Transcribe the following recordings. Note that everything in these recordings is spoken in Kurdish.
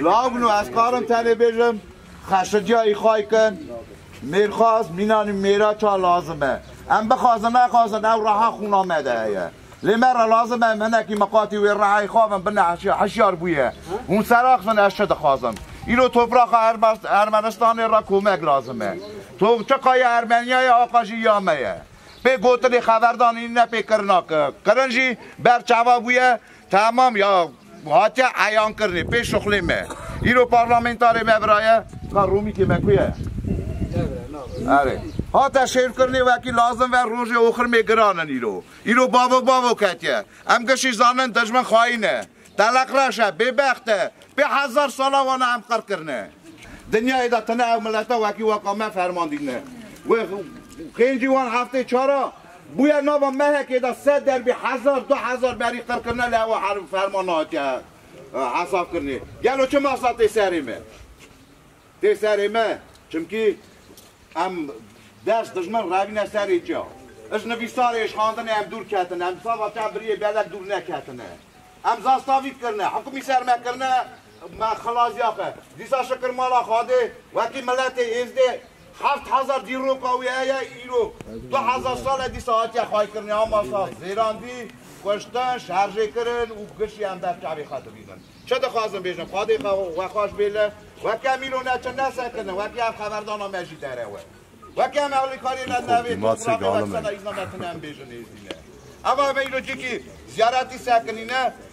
Lagno ez karim tenê bêjim. Xeşedîya îxay kin, mêrxas, mînan û mêra ça lazim e. Em bixwazin nexwazin ew reha xûna me de heye. Lê me re lazim e em hinekî miqatî wê rehayê xwe bin bine heşyar. Heşyar bûye. Hûn seraq bin ez çi dixwazim. Îro topraxa Ermenistanê re komek lazim e. Toqçika ya Ermeniyayê a qajî ya me ye. Pê gotinê xeverdanî ne pê kirina kirina. Kirin jî ber çawa bûye Tamam ya ku hatiye eyankirinê pê şuxlê me. Îro parlamentarê me viraye ka romîkê me ku ye? Erê. Hate şêrkirinê wekî lazim ve rojê oxirmê giran in îro. Îro bavok bavok ketiye. Em gişî zanin dijmin xayîn e. Teleq reş e, bêbext e. Pê hezar sala wan a em qir kirine. Dinyayê de tune ew mileta wekî waka me ferman dîne. Wê qêncî wan heftê çar a. Bûye nava mehekê de sed derbî hezar, du hezar berî qirkirine li hewa herm ferman nehatiye hesabkirinê. Gelo çi masa tê serê me? Tê serê me çimkî em dest dijmin revîne serê ca. Ji nivîsarê êşxandinê em dûr ketine, em sava çend biriyê belek dûr neketine. Em zastavî kirine, hikûmî ser me kirine, me xilasîya xwe. Dîsa şikir mala Xwedê wekî miletê Êzdê, Heft hezar dîroka wî heye îro. Du hezar sal e dîsa hatiye xwaykirinê Hamasa zêrandî, kuştin, şerjêkirin û giş yên ber çavê xwe dibînin. Çi dixwazin bêjin? Xwedê xwe we xweş bê li. Weke em îro neçin nesekirin, weke ev xeberdana me jî derewe. Weke em ewlêkariyê ne devê topravê we kisena îzna me tune em bêjin êzîne. Eva em îro cîkî ziyaretî sekinîne,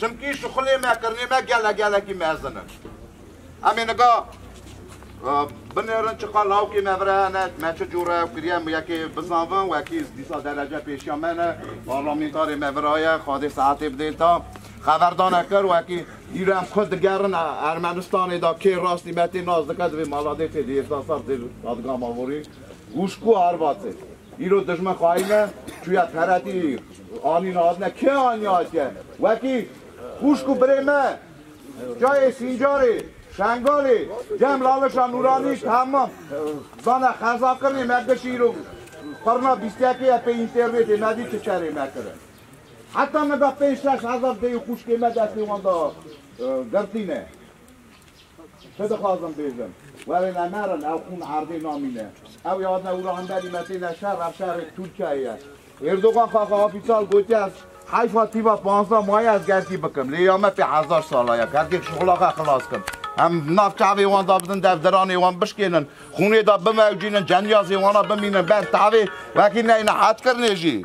Çimkî şixulê me, kirinê me gele gelekî mezin in. Em ê nika binêrin çiqas lawikê me vir hene, me çi cûr re ew kiriye min yekê bizanvin, wekî dîsa derece pêşiya me ne, parlamentarê me viraye, xwedê saetê bidê ta xeverdane kir wekî îro em xwe digerin Ermenistanê da kê rastî me tê nas dike divê mala dê tê dê hêzda sal tê dadgama vorî û ji ku arvatê. Îro dijmin xayîne çûye Qeretî, anîne hatine kê anî hatike wekî xûşk û birê me cayê Sîncarê, Şengalê, Cem Lalişa Nûranî temam zana xeza kirnê me giş îro qirna bîst yekê ye pê înternêtê me dî çi serê me kire. Heta niga pênc şeş hezar dêyî xûşkê me destê wan da girtîne. Çi dixwazim bêjim? Were ne merin ew xûn erdê namîne. Ew ya ne ûra hinde rîmetê ne şer ev şerê Tirkiyeyê ye. Erdogan xaxa ofîsal gotiye ez heyfa tîva panzda maye ez gerdî bikim. Lê ya me pê hezar sal a ya gerdê şixula xwe xilas kim. Em nav çavê wan da bidin dev diranê wan bişkênin. Xûnê da bimewcînin, cemyazê wan a bimînin ber tavê wekî neyne hetkirinê jî.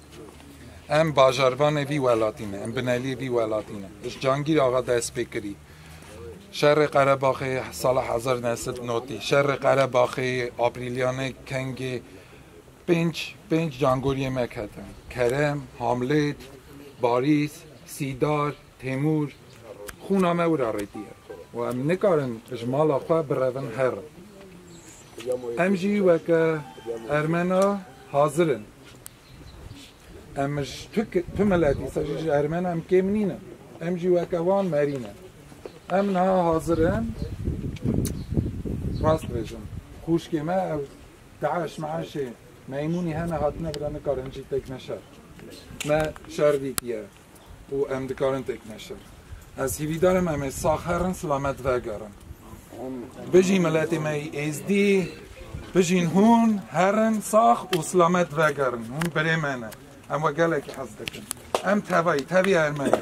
Em bajarvanê vî welatî ne, em bineliyê vî welatî ne. Ji Cangîr axa dest pê kirî. Şerê Qerebaxê sala hezar neh sed notî, şerê Qerebaxê, Aprîlyanê, Kengê pênc pênc cangoriyê me ketin. Kerem, Hamlêt, Barîs, Sîdar, Têmûr, Xûna me wira rêtiye û em nikarin ji mala xwe birevin herin. Em jî weke ermena hazir in. Em ji tu tu miletî se jî ji ermena em kêm nînin. Em jî weke wan merî ne. Em niha hazir in rast bêjin. Xûşkê me ew DAIŞ meişê Meymûnî hene hatine bira nikarin jî têkine şer. Me şer dîtiye. û em dikarin têkine şer. Ez hîvîdar im em ê sax herin silamet vegerin. Bijî miletê me yî êzdî, bijîn hûn, herin sax û silamet vegerin. Hûn birê me ne. Em we gelekî hez dikin. Em tevayî, tevî ermenî.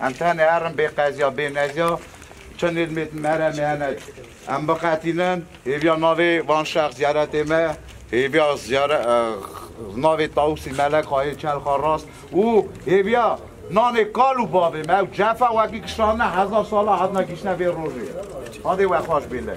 Em tenê herin bê qeziya bê neziya çinên me di meremê hene. Em biqetînin hêviya navê van şex ziyaretê me hêviya navê Tawusî Melek Xayê Çelxa Rast û hêviya nanê kal û bavê me ew cefa wekî kişandine hezar sala hatina gihîştine vê rojê. Hadê we xweş bê lê.